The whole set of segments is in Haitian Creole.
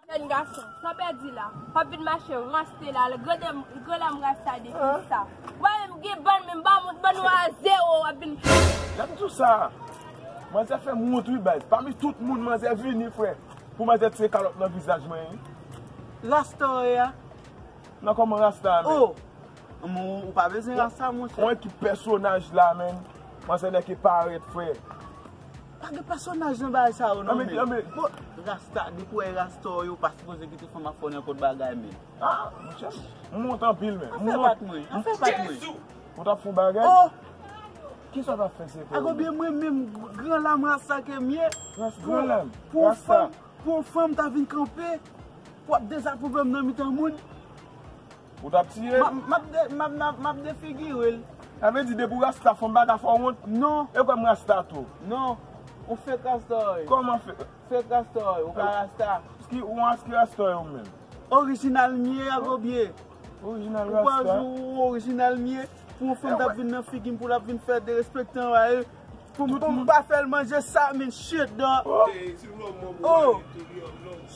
Jèn gason, tan pèdi la, pap vin mache ranste la al gre la mra sa depi sa. Wè men m gen bann men m pa moun bann nou a zero wap vin fou. Gad tout sa. Manzè fèm wont wi baz. Pami tout moun manzè vini frè. Pou manzè tiye kalòt nan vizaj mwen wi. Rasta ou ye a? Nan kòman rasta a menm? Oh! Ou pa bezwen rasta monchè. Ou wè ki pèsonaj la menm. Manzè nèke parèt frè. Pa gen pèsonaj nan bagay sa yo non men. Anmè anmè bon. Rasta depi wè rasta yo pa sipoze kite fanm ap fè w nenpòt bagay men. A monchè m wont anpil men. Afè pat mwen. Afè pat mwen. Jezuu. Ou tap fon bagay. Oh. Kisa w tap fè se te ou. A konbyen mwen menm gran lam rasta ke m ye. Rasta gran lam. Pou yon fanm pou yon fanm ta vin kanpe pou ap dezapwouve m nan mitan moun. Ou tap tiye m? M ap defigire l. Sa vle di depi w rasta fò m pa ka fè w wont? Non. E w kwè m rasta tou? Non. Ou fake rasta wi. Kòman fake? Fake rasta wi. Ou pa rasta. Ski ou an ski rasta wi ou menm? Orijinal m ye Agobye. Orijinal rasta. Ou kwè yon jou ou orijinal m ye pou yon fanm ta vin nan figi m pou l ap vin fè derespektan w a e? Poum pa fèl manje sa min shit dog. Oh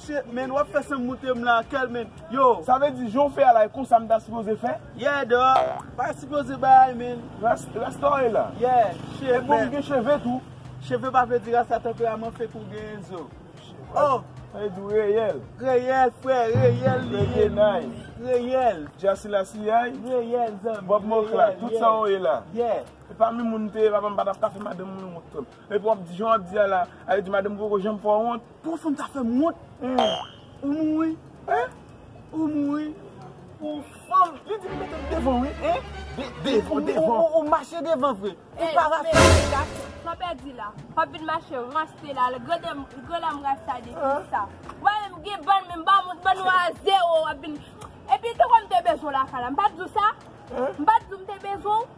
shit men wap fè sanm moutem la kèl men yo. Sa vle di jan w fè a la e konsa m ta sipoze fè? Yeah dog, pa sipoze bay men. Rasta e la? Yeah shit man. E poum gen cheve tou? Cheve pa vle di rasta tanperaman fek ou gen zo. Oh. Sa vle di w reyèl? Reyèl frè, reyèl li ye. Reyèl. Jasila siyay? Reyèl zanmi. Bob Mokla, tout sa w ye la? Yeah. Se pa menm moun m te ye papa m pa tap ka fè madanm mwen wont tou. Epi wap di jan wap di a la a yo di madanm mwen poko janm fè w wont. Pou yon fanm ta fè m wont eh ou mouri eh ou mouri pou yon fanm li di m mete l devan wi eh ou mache devan vre ou pa rate. Hey mesye gason pa pèdi la pap vin mache ranse la al grande grande m rasta de kisa wè menm m gen bann menm bann moun bann nou a zero wap vin epi se konn m te bezwen w lakay la m pat di w sa m pat di w m te bezwen w.